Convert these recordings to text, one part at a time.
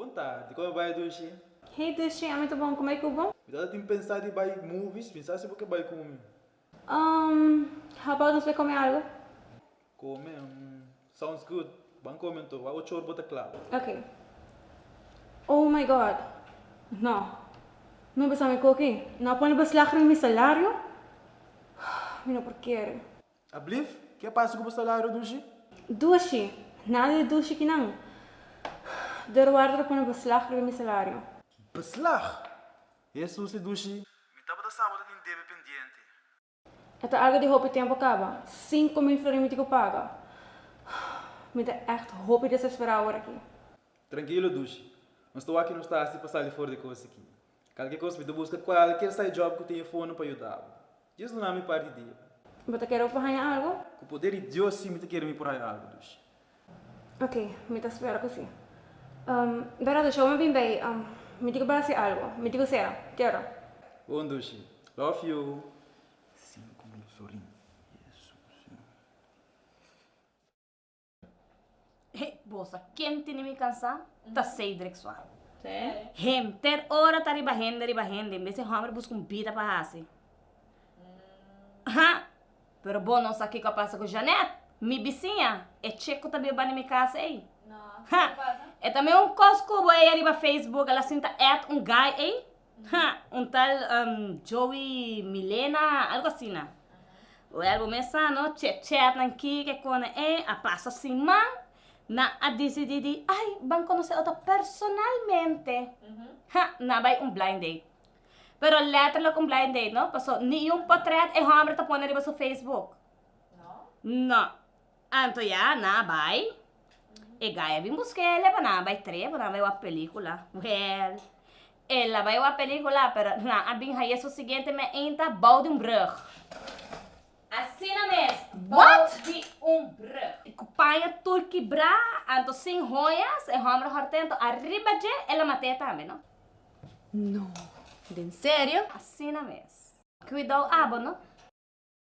Bon ta, dikon mi bai Dushi? Hey Dushi, ami ta bon, ku bai ku bo? Mi tata tin pensa di bai movies, mi sa si bo ke bai ku mi. Um, how about nos bai kome algu? Kome, um, sounds good, ban kome anto, wak ocho or bo ta kla. Ok. Oh my God, no, no besame koki, no a pone beslag rin mi salario, mi no por kere. Ablif, ke a pasa ku bo salario dushi? Dushi, Nadie dushi ki nan. Dorwardo ta pone beslag riba mi salario. Beslag? E susi dushi? Mi tabata sa bo ta tin debe pendiente. E ta algu di hopi tempu a kaba. Sinku mil florin mi tin ku paga. Mi ta ègt hopi desesperá awor aki. Trankilo dushi. Nos ta wak ke nos ta hasi pa sali for di kosa aki. Kalke kos, mi ta buska kualker sai job ku tin e fono pa yuda bo. Dios duna mi par di dia. Bo ta kere ku por haña algu? Ku poder di Dios, si mi ta kere mi por haña algu, Dushi. Ok, mi ta spera ku si. Bera Dushi, ora mi bin bay, mi di ku bai hasi algu. Mi di ku Sera, Kera. Bon, Dushi. Love you. He, bosa, ken tini mi kansa, ta Cedric Swan. Henter ora ta riba hende, riba hende, en bes e hombre busca un bida pa hasi. Ha, pero bo no sa kiko a pasa ku Janet, mi bisiña, e chek ku ta bin bani mi kasa ei. Ha, e ta mi un kos kubo ei ariba Facebook, el a sinta add un guy ei, Ha, un tal um, Joey Milena, algo asina. Wèl, bo mesa no chèchètnan ki ke kona e a pasa sin man, nan a disidí di ai ban konosé otro personalmente. Ha, nan bai un blind date. Pero lètterlijk un blind date no, paso niun potrèt e hòmber ta pone riba su Facebook. No. Anto ya na bai. E gaya bin busqué el e pa nan bai tré pa nan bai wak pelicula. Well, el a bai wak pelicula pero nan a bin haye su siguiente me inta bou di un brug. Asina mes, bou di un brug. Cu paña tur kibrá, anto sin hoyas, e hombre hortento arriba dje el a maté tambe no. No. Den serio? Asina mes. Cuidou abo no.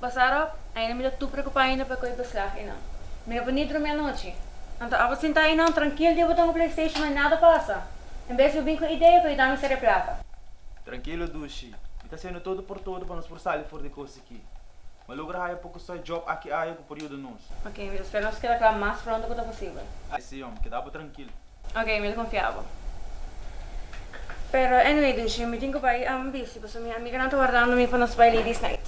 Pasarop, ainda mi ta tur preocupa ainda pa coe beslag enan. Mi no por ni drumi anochi. Anto abo sinta enan trankil di bota un playstation ma nada pasa. En bes mi bin cu idea pa yu dami sere plata. Trankilo Dushi, mi ta hacendo todo por todo pa nos por sali for di cos aki. Mi a logra haya poco side job aki aye cu por yuda nos. Ok, mi ta spera nos keda cla mas pronto cu ta posibel. Ay si, hombre, keda abo trankil. Ok, mi ta confia bo. Pero anyway Dushi, mi tin cu bay am busy pasobra mi amiganan ta wardando mi pa nos bay ladies night.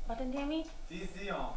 Bo ta entiende mi? Sí, sí, ho.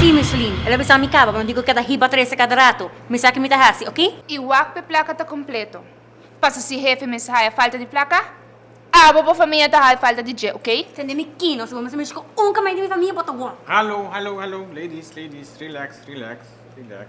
Sí, Micheline. El a bisa mi caba, pero mi dico keda hiba trece cada rato. Mi sa ki mi ta haci, ok? I wak p'e placa ta completo. Paso si hefe mes haya falta di placa, abo bo famia ta haya falta di dje, ok? Tende mi kino, si bo mester mishi cu un ka mai di mi famia, bo ta won. Hallo, hallo, hallo, ladies, ladies, relax, relax, relax.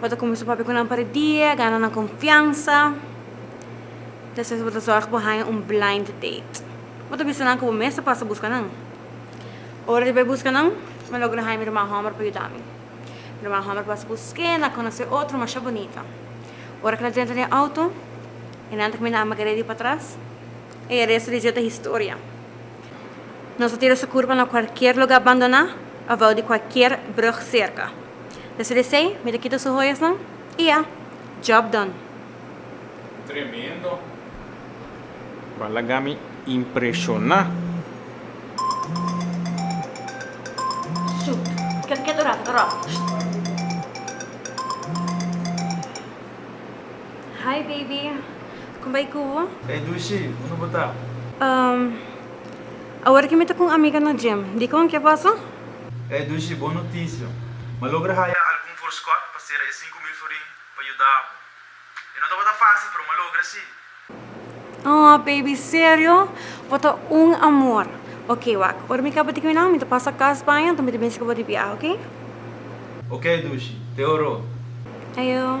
Bo ta kuminsá papia ku nan pa e dia, gana nan konfiansa. Despues bo ta zòrg bo haña un blind date. Bo ta bisa nan ku bo mes ta pasa buska nan. Ora di bai buska nan, mi a logra haña mi ruman hòmber pa yuda mi. Mi ruman hòmber pasa busk'é, el a konosé otro mashá bunita. Ora ku nan drenta den outo, e nan ta kaminda ama Grady patras. Ey a resto di dia ta historia. Nos a tira sukur pa na kualkier lugá bandoná òf bou di kualkier brùg serka. Te sali esei, mi ta kita su hoyasnan i ya, job done. Tremendo. Ba laga mi impreshoná. Shoot. Ket ket un rato ta ròk. Hi baby. Kon bai ku bo? Ey Dushi, unda bo ta? Awor ki mi ta ku un amiga na gym. Dikon? Ke pasa? E dushi bon notisia. M'a logra haya algun forskot pa sera e sinku mil forin pa yuda bo. E no tabata fásil, pero m'a logra sí. Aw, baby, serio? Bo ta un amor. Ok, wak, ora mi kaba di kuminan, mi ta pasa kas baña, anto mi ta binse ku bo di biaha, oke? Oke, dushi. Te oro. Ayo.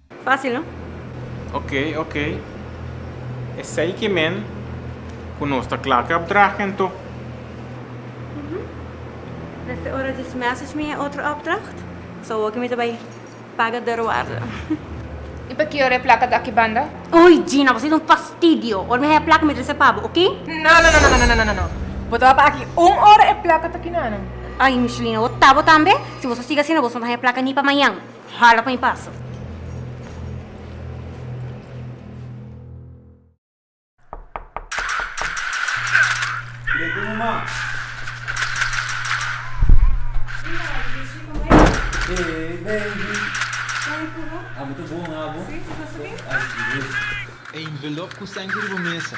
Fácil no? Ok, ok. Esei ki men ku nos ta kla kap draag ento. Nes te ora djis message mi e otro opdracht. So awor ki mi ta bai paga deurwaarde. I pakier e plaka ta aki banda? Oy Gina, bo siet un fastidio. Ora mi haña e plaka mi trese pa bo, oke? No, no, no, no, no, no. Bo ta wak aki un ora e plaka ta aki nada. Ay Michelina, bo ta bo tambe? Si bo ta sigui asina bo so no ta haña plaka ni pa mañan. Hala pa mi pasa. E envelop ku sènke riba mesa.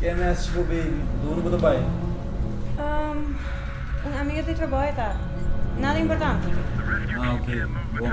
Ken mes bo baby? Dónde bo ta bai? Um, un amiga di trabou e ta. Nada importante. Ah, ok. Bon.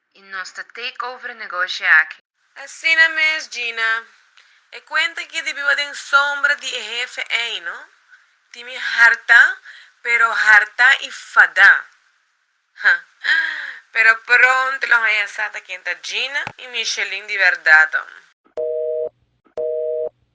Y nos ta take over e negoshi aki. Asina mes Gina, e cuenta ki di biba den sombra di e hefe ey no, tin mi harta, pero harta y fada. Ha, pero pronto lo haya sa ta ken ta Gina y Michelin di verdad.